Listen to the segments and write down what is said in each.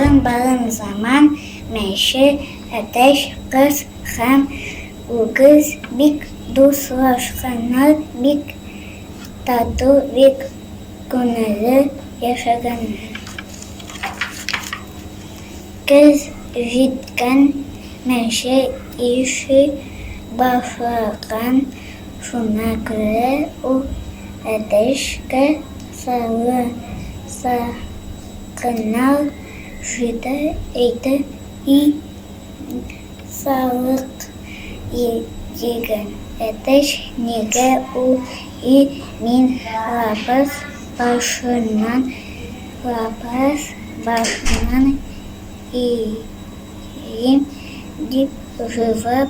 Балын-балын заман мәче әтәч кыз һәм үгез бик дуслашканнар, бик тату, бик күңелле яшәгәннәр. Көз җиткән мәче ише башлаган. Шуңа күрә ул әтәчкә салынса гына шита әйтә, и салык дигән әтәч, нигә ул и мин лапас башыннан лапас башыннан иим дип җавап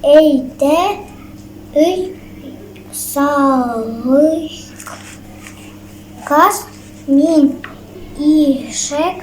Әйдә, өй салыйк. Каз, мин ишәк